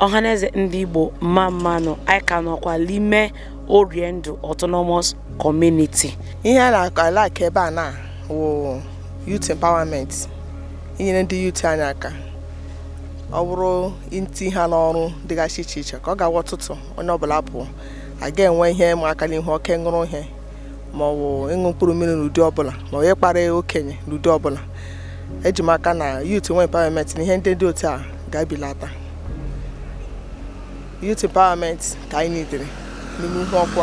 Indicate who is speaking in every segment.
Speaker 1: ọhaneze ndị igbo mma mma nụ anyị ka nọkwa n'ime oriendu autonomous community ihe na-alack ebe a na wụ youth empowerment inyere ndị youth anyị aka ọ bụrụ itinye ha n'ọrụ dịgasị iche iche ka ọ ga-awụ ụtụtụ onye ọbụla apụọ a ga-enwe ihe ma aka n'ihu oke ṅụrụ ihe ma ọ bụ ịṅụ mkpụrụ mmiri n'ụdị ọbụla ma ọ bụ ịkparị okenye n'ụdị ọbụla eji m aka na youth nwee empowerment na ihe ndị dị otu a ga-ebelata youth empowerment ka anyị needịrị n'ime uhuokwu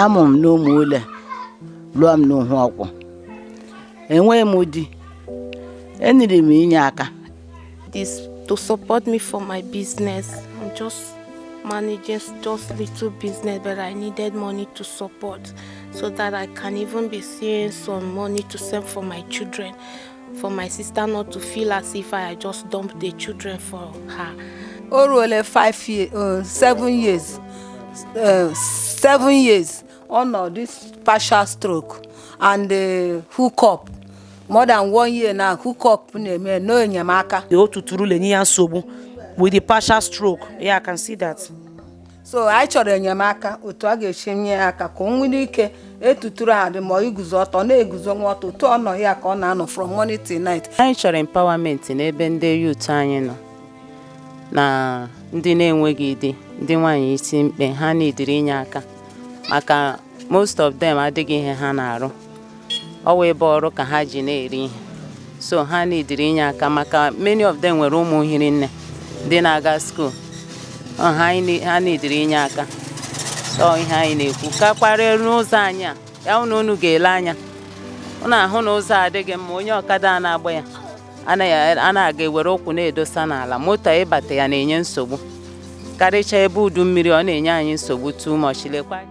Speaker 1: amụ m n'umule lụọ m n'uhuokwu enweghị m di eneedịrị m inye aka this to support me for my business. I'm just managing just little business, but I needed money to support so that I can even be seeing some money to send for my children. for my sister not to feel as if I just dumped the children for her. O ruole five years, uh, seven years, uh, seven years ọ nọ this partial stroke and uh, hook up more than one year na hook up na-eme no enyemaka. O tuturu lenye ya nsogbu with the partial stroke. Yeah, I can see that. so anyị chọrọ enyemaka otu a ga-esi nye ya aka ka o nwere ike etuturu adị ma iguzo ọtọ na-eguzonwu ọtọ otu ọ nọ ya ka ọ na-anọ from morning till night anyị chọrọ empowerment n'ebe ndị youth anyị nọ na ndị na-enweghị di ndị nwaanyị isi mkpe ha needịrị inye aka maka most of them adịghị ihe ha na-arụ ọ wụ ịgba ọrụ ka ha ji na-eri ihe so ha needịrị inye aka maka many of them nwere ụmụ hiri nne ndị na-aga school ha needịrị inye aka so ihe anyị na-ekwu ka kparịa n'ụzọ anyị a ya hụ na unu ga-ele anya unu ahụ na ụzọ adịghị mma onye ọkada na-agba ya na-ewere ụkwụ na-edosa n'ala moto ịbata ya na-enye nsogbu karịchaa ebe udu mmiri ọ na-enye anyị nsogbu too much lekwa